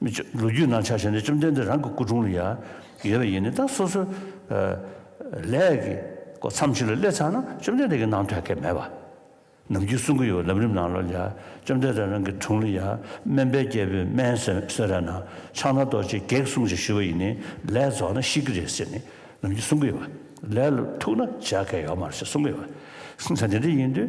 མི་ཆོས་ལོ་རྒྱུས་ནང་ཆ་བཞག་ནས་བཅོམ་ལྡན་འདས་རང་གི་སྐུ་དྲུང་ལ་ཡང་ཡོད་པ་ཡིན་ནའི་ད་སོ་སོའི་ལས་ཀྱི་སྐོར་འཚམས་ཆོས་ལ་སླེབས་ཚར་ན་བཅོམ་ལྡན་འདས་ཀྱི་ནང་དོན་སྐད་མེད་པ་ནམ་རྒྱུན་གསུང་གི་ཡོད་པ་ལམ་རིམ་ནང་ལོ་ལ་བཅོམ་ལྡན་འདས་རང་གི་དྲུང་ལ་ཡང་སྨན་པའི་རྒྱལ་པོས་སྨན་གསོལ་ར་ན་ཕྱག་ན་རྡོ་རྗེས་བགེགས་བསྲུང་ཞེས་ཞུ་བ་ཡིན་ནའི་ལས་རྫོགས་ན་ཤི་གི་རེད་ཟེར་ནས་ནམ་རྒྱུན་གསུང་གི་ཡོད་པ་ལས་ལ་ཐུག་ན་བྱ་སྐད་ཡོད་མ་རེད་ཟེར་གསུང་གི་ཡོད་པ་ད་འདི་འདྲ་ཡིན་དུས།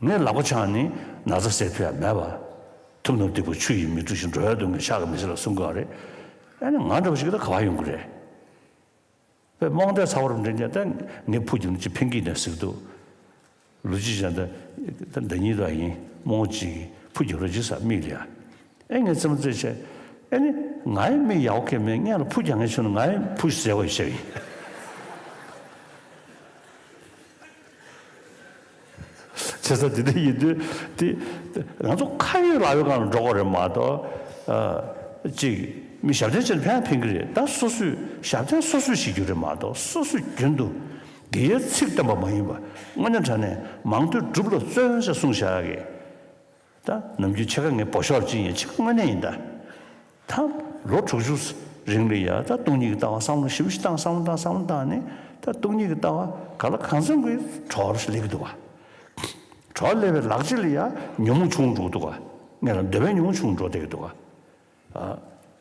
ངའི་ལག་པ་འཆང་ནི་ན་བཟའ་སེར་ཕུད་ཡང་མེད་པར། ཐུབ་ནོར་སྟེགས་བུ་ཆུ་ཡིས་མི་དཀྲུགས་ཤིང་འགྲོ་བའི་སྡུག་བསྔལ་ཤག་གིས་མི་སེལ་བ་གསུང་གི་ཨ་རེད། ཨ་ནི་ང་འདྲ་བ་ཞིག་གིས་ད་ག་བར་ཡོང་གི་རེད། བས་རྨོངས་དད་ཚ་བོར་འདྲེན་རྒྱ་ད་ངའི་ཕུགས་ཀྱི་ནི་ཅི་ཕན་གྱིས་ནས་ཟིག་འདུག། ལུས་ཅི་བྱས་ད་ད་འདི་ཉིད་དུ་ཡིན་རྨོངས་ཅིག་ཕུགས་ཀྱི་རོ་ཇི་ཟ་མིག་ལ། ཨེ་ངའི་རྩེད་མོ་རྩེད་ཆེ། ཨེ་ནི་ངའི་མིག་ཡག་པོ་ཁེབས་མེད་ངས་ལ་ཕུགས་ཀྱང་ངས་ཆུ་ནི་ངའི་ཕུགས་ཞེས་ཟེར་བ་ཡིན་ཤག་ཡིན། བྱེད་ས་དེ་འདྲ་ཡིན་དུས་དེ། ང་ཚོ་ཁ་ཡོད་ལག་ཡོད་གང་ལ་འགྲོ་དགོས་རེད་མ་གཏོགས། གཅིག། མི་ཞབས་འདྲེན་བྱེད་ན་ཕན་ཡང་ཕན་གྱི་རེད་ད་སོ་སོས་ཞབས་འདྲེན་སོ་སོས་བྱེད་རྒྱུ་རེད་མ་གཏོགས་སོ་སོས་རྒྱུན་དུ་དགེ་ཡའི་ཚིག་བཏོན་པ་མ་ཡིན་པ་དངོས་གནས་དྲན་ནས་མང་ཐོས་སྒྲུབ་ལ་བརྩོན་བྱ་གསུངས་བཞག་གི། ད་ནམ་རྒྱུན་ཕྱེད་ཀ་ངས་བོ་ཤོར་གྱིན་ཡོད་ཕྱེད་ཀ་དངོས་གནས་ཡིན་ད། ད་ལོ་དྲུག་ཅུ་རིང་ལུས་ཡ་ད་སྟོང་ཉིད་ཀྱི་ལྟ་བ་བསམ་བློ་ཞིབ་ཞིབ་བཏང་བསམ་བློ་བཏང་བསམ་བློ་བཏང་ནས་ད་སྟོང་ཉིད་ཀྱི་ལྟ་བ་ག་ལ་གང་འཚམ་གྱི་གྲོགས་ལས་ཀྱི་འདུག་བ། གྲོགས་ལས་པའི་ལག་རྗེས་ལ་ཡ་ཉུང་ངུ་བྱུང་འགྲོ་གི་འདུག་བ། ངས་ལ་འདོད་པའི་ཉུང་ངུ་བྱུང་འགྲོ་བསྡད་ཀྱི་འདུག་བ།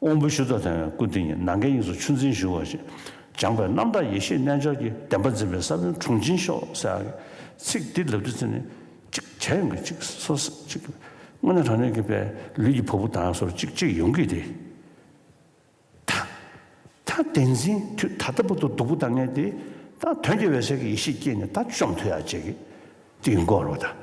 དབང་པོའི་ཤུལ་རྫོགས་དེ་ཡང་སྐུ་དེ་ཉིད་ནམ་མཁའི་དབྱིངས་སུ་ཆུ་འཛིན་བཞིན་འོད་ཅེས་སྦྱངས་པས་རྣམ་དག་ཡེ་ཤེས་རྣལ་འབྱོར་གྱི་བདེན་པ་འཛིན་པའི་ས་བོན་དྲུངས་འབྱིན་ཤོག་སེར་ཨ། ཚིག་འདི་ལབ་དུས་ཚིག་ནི། གཅིག་བྱ་ཡོང་གི་གཅིག་སོ་སོ་གཅིག། དངོས་གནས་དྲང་སྙོམས་ཀྱི་པའི་ལུས་ཀྱི་བ་སྤུ་དྭངས་སོར་གཅིག་གཅིག་ཡོང་གི་དེ། ད་ད་བདེན་འཛིན་དུས་ད་ལྟ་བུ་དུ་སྡུག་པོ་ད་ངས་དེ། ད་དོན་གྱི་འོད་གསལ་གྱི་ཡེ་ཤེས་སྐྱེས་ནས་ད་བཅོམ་དུས་ཡར་བཅད་ཀྱི་དེ་ཡི་འགོག་རོགས་ད།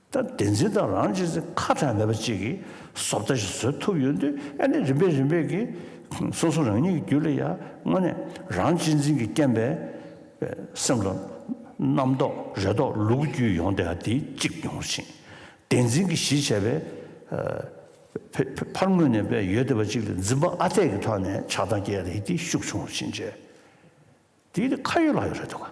ད་བདེན་འཛིན་དང་རང་གཅེས་ཚེ་ཁ་གྲངས་མེད་པ་གཅིག་གིས་བཟོ་ལྟ་ཞིག་བཟོས་ཐུབ་ཡོད་དུས་ཨ་ནི་རིམ་པས་རིམ་པས་ཀྱིས་སོ་སོ་རང་ཉིད་ཀྱི་རྒྱུད་ལ་ཡར་སྔོན་ནས་རང་གཅེས་འཛིན་གྱི་རྐྱེན་པས་སེམས་ལ་རྣམ་རྟོག་རེ་དོགས་ལུ་གུ་རྒྱུད་ཡོང་དེ་ཨ་དེ་གཅིག་མྱོང་ཞིང་བདེན་འཛིན་གྱི་གཞི་བྱས་པའི་ཕར་སྔོན་ནས་པས་ཡོད་དེ་བ་གཅིག་ལ་འཛིན་པ་ཨ་འཐས་ཀྱི་ཐོག་ནས་ཆགས་སྡང་སྐྱེས་ཨ་དེ་ཤུགས་ཆུང་བ་ཕྱིན་ཆད་དེ་ཁ་ཡོད་ལག་ཡོད་རེ་དོགས་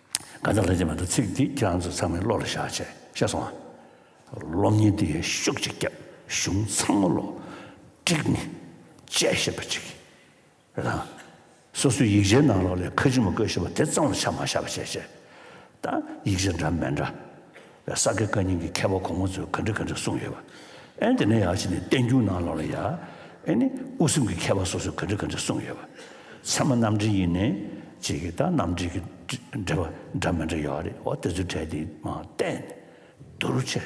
གང་ལྟར་ལྷན་ཅིག་མ་འདུག་ཚིག་འདི་ཁྱེད་རང་ཚོ་ཚང་མའི་བློ་ལ་བཞག་ཆེ་ཤེས་སོང་ཨ། སློབ་གཉེར་འདི་ཡར་ཤུགས་ཅིག་བརྒྱབ་གཞུང་ཚང་མ་བློ་དཀྲིགས་ནས་དཔྱད་ཤེས་པ་ཅིག་རེ་དང། སོ་སོའི་ཡིག་ཆའི་ནང་ལོགས་ལས་ཁ་ཆུ་མ་བསྐོལ་ཤེས་པ་དེ་གཙང་བོ་ཆ་མ་བཞག་པ་བྱས་ཤེས་དང་ཡིག་ཆ་འདྲ་མི་འདྲ། བའི་ས་དགེ་བཀའ་རྙིང་གི་མཁས་པ་གོང་མ་ཚོས་ག་འདྲི་ག་འདྲི་གསུངས་ཡོད་པ། ཨན་དེ་ནས་ཡར་ཕྱིན་ནས་བསྟན་འགྱུར་ནང་ལོགས་ལ་ཡ། ཨེ་ནི། དབུ་སེམས་ཀྱི་མཁས་པ་སོ་སོས་ག་འདྲི་ག་འདྲི་གསུངས་ཡོད་པ། ཚད་མ་རྣམ་འགྲེལ་ཡིན་ནི། ཅེས་ཀྱི་ད་རྣམ་འགྲེལ་གྱི་འགྲེལ་པ་འདྲ་མི་འདྲ་ཡོད་རེད་བ་དེ་ཚོའི་གྲས་དེ་མ་བལྟས་ནས་བསྡུར་བྱས།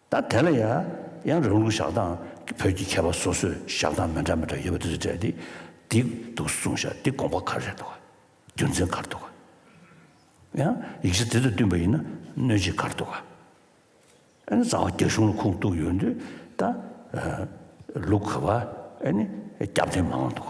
ད་དེ་ལ་ཡང་རང་ལུགས་བཞག་སྟངས་ཀྱི་བོད་ཀྱི་མཁས་པ་སོ་སོས་བཞག་སྟངས་མི་འདྲ་མི་འདྲ་ཡོད་པ་དེ་ཚོ་དྲན་ཏེ་འདི་འདུག་གསུངས་བཞག་འདི་དགོངས་པ་ག་རེ་རེད་འདུག་རྒྱུ་མཚན་ག་རེ་འདུག་ཡང་ཡིག་ཆ་དེ་ཚོ་བསྟུན་པ་ཡིན་ན་གནོད་བྱེད་ག་རེ་འདུག་ཨ་ནི་རྩ་བ་རྒྱ་གཞུང་ལ་ཁུངས་གཏུགས་ཡོད་འདུག་ད་ལུགས་ག་བ་ཨ་ནི་རྒྱབ་རྟེན་མང་འདུག།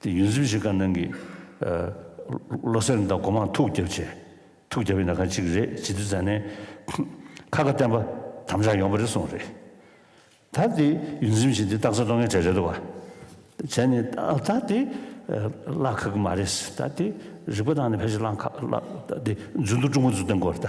དེ་ཡུན་རིམ་བཞིན་དཀར་ནང་གི། བློ་སེང་དང་སྒོ་མང་ཐུགས་རྒྱབ་བྱས། ཐུགས་རྒྱབ་ཡིན་ན་ག་ཅིག་རེད་བྱིས་དུས་ཟ་ནས། ཁ་ཁ་བསྟན་པ་དམ་བཅའ་ཡོང་པ་རེ་སོང་རེད། ད་དེ་ཡུན་རིམ་བཞིན་དེ་སྟག་རྩེ་གཏོང་མཁན་གྲས་རེད་འདུག་བ། བྱས་ནས་ད་དེ། བླ་ཁ་གི་མ་རེད། ད་དེ་རིག་པ་དང་ནི་ཕལ་ཆེར་བླ་ཁ། ད་དེ་རྫུན་དུ་ཀྲུང་གོ་འཛུགས་སྟངས་སྐོར་ད།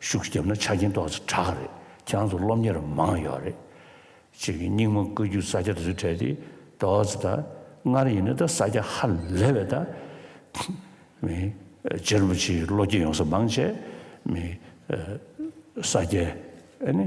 ཤུགས་བརྒྱབ་ན་ཆ་རྐྱེན་ཏོག་ཙེ་དྲག་གི་རེད་ཁྱེད་རང་ཚོ་སློབ་གཉེར་མང་ཡོད་རེད། ཁྱེད་ཀྱི་སྙིང་མ་བཀོད་རྒྱུ་ས་སྐྱ་རུ་བྲལ་ཏེ་ཏོག་ཙེ་ད་སྔར་ཡིན་ན་ད་ས་སྐྱ་ཧ་ལས་བས་ད་མི་རྗེ་རིན་པོ་ཆེའི་བློ་སྐྱེད་ཡོང་ས་མང་བྱས་མི་ས་སྐྱའི་ཨ་ནི།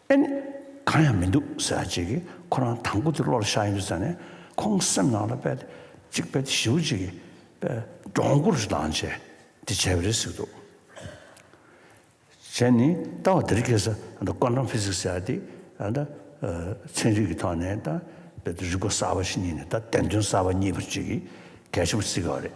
ཨེ་ནི། གང་ཡང་མི་འདུག་ཟེར་བ་གཅིག་གིས་ཁོ་རང་དང་པོ་དེ་བློ་ལ་ཤར་ཡོང་རྒྱུ་བརྩམས་ནས་ཁོང་སེམས་ནང་ལ་དཔེ་དེབ་གཅིག་དཔེ་དེབ་བཞི་བོ་གཅིག་གིས་དཔེ་སྒྲོག་མགོ་རུ་ལྡང་བྱས་དེ་བྱས་པ་རེད་ཟེར་གྱི་འདུག་བྱས་ནས་ལྟ་བ་དེར་སྐྱེས་ས་ད Quantum Physics ཟེར་བ་དེ་ད་ཚན་རིག་གི་ཐོག་ནས་ད་རིག་གོ་གསར་བ་ཞིག་རྙེད་ནས་ད་བདེན་དོན་གསར་བ་རྙེད་པར་གཅིག་གིས་གལ་ཆེན་པོ་བརྩི་དགོས་པ་རེད།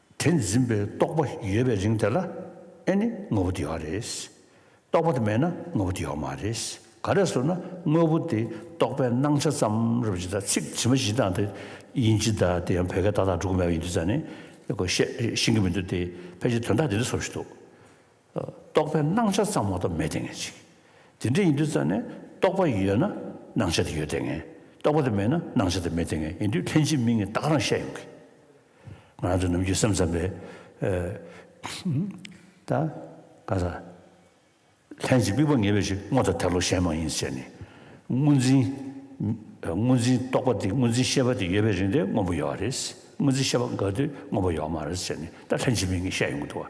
དེ་འཛིན་པའི་རྟོག་པ་ཡོད་པའི་རིང་དེ་ལ་ཨེ་ནི་དངོས་པོ་དེ་ཡོད་རེད། རྟོག་པ་དེ་མེད་ན་དངོས་པོ་དེ་ཡོད་མ་རེད། ག་རེ་ཟུར་ན་དངོས་པོ་དེ་རྟོག་པའི་སྣང་ཆ་ཙམ་རེད་བྱས་ད་ཚིག་ཇི་མ་ཇི་དང་དེ་ཡིན་ཇི་ད་དེ་ཡང་བོད་སྐད་ཏག་ཏག་འགྲོ་གི་མེད་པ་ཡིན་དུས་ཙང་ནས་བཤད་ཤིང་གི་མི་འདུག་དེ་ཕལ་ཆེར་དོན་དག་དེ་འདྲ་བཟོ་བཞིན་འདུག་རྟོག་པའི་སྣང་ཆ་ཙམ་མ་གཏོགས་མེད་དེ་ངེས་ཅིག། དེ་འདྲ་ཡིན་དུས་ཙམ་ནས་རྟོག་པ་ཡོད་ན་སྣང་ཆ་དེ་ཡོད་དེ་ངེས། རྟོག་པ་དེ་མེད་ན་སྣང་ཆ་དེ་མེད་དེ་ངེས་ཡིན་དུས་ལྷན་ཅིག་མིན་གྱི་རྟགས་རང་ཤེས་ཡོང་གི། ང་རང་ཚོ་ནམ་རྒྱུན་སེམས་ཙམ་པས། ད་ག་ས། ལྷན་ཅིག་དམིགས་པ་ངེས་པའི་ཕྱིར་དངོས་དང་དལ་ལོག་གཞན་མ་ཡིན་ཟེར་ནས། དངོས་འཛིན། དངོས་འཛིན་རྟོག་པ་དེ་དངོས་འཛིན་ཤེས་པ་དེ་ཡོད་པའི་རིང་དེ་དངོས་པོ་ཡོད་རེད། དངོས་འཛིན་ཤེས་པ་འགག་དུས་དངོས་པོ་ཡོད་མ་རེད་ཟེར་ནས་ད་ལྷན་ཅིག་མིན་གྱི་བཤད་ཡོང་གི་འདུག་བ།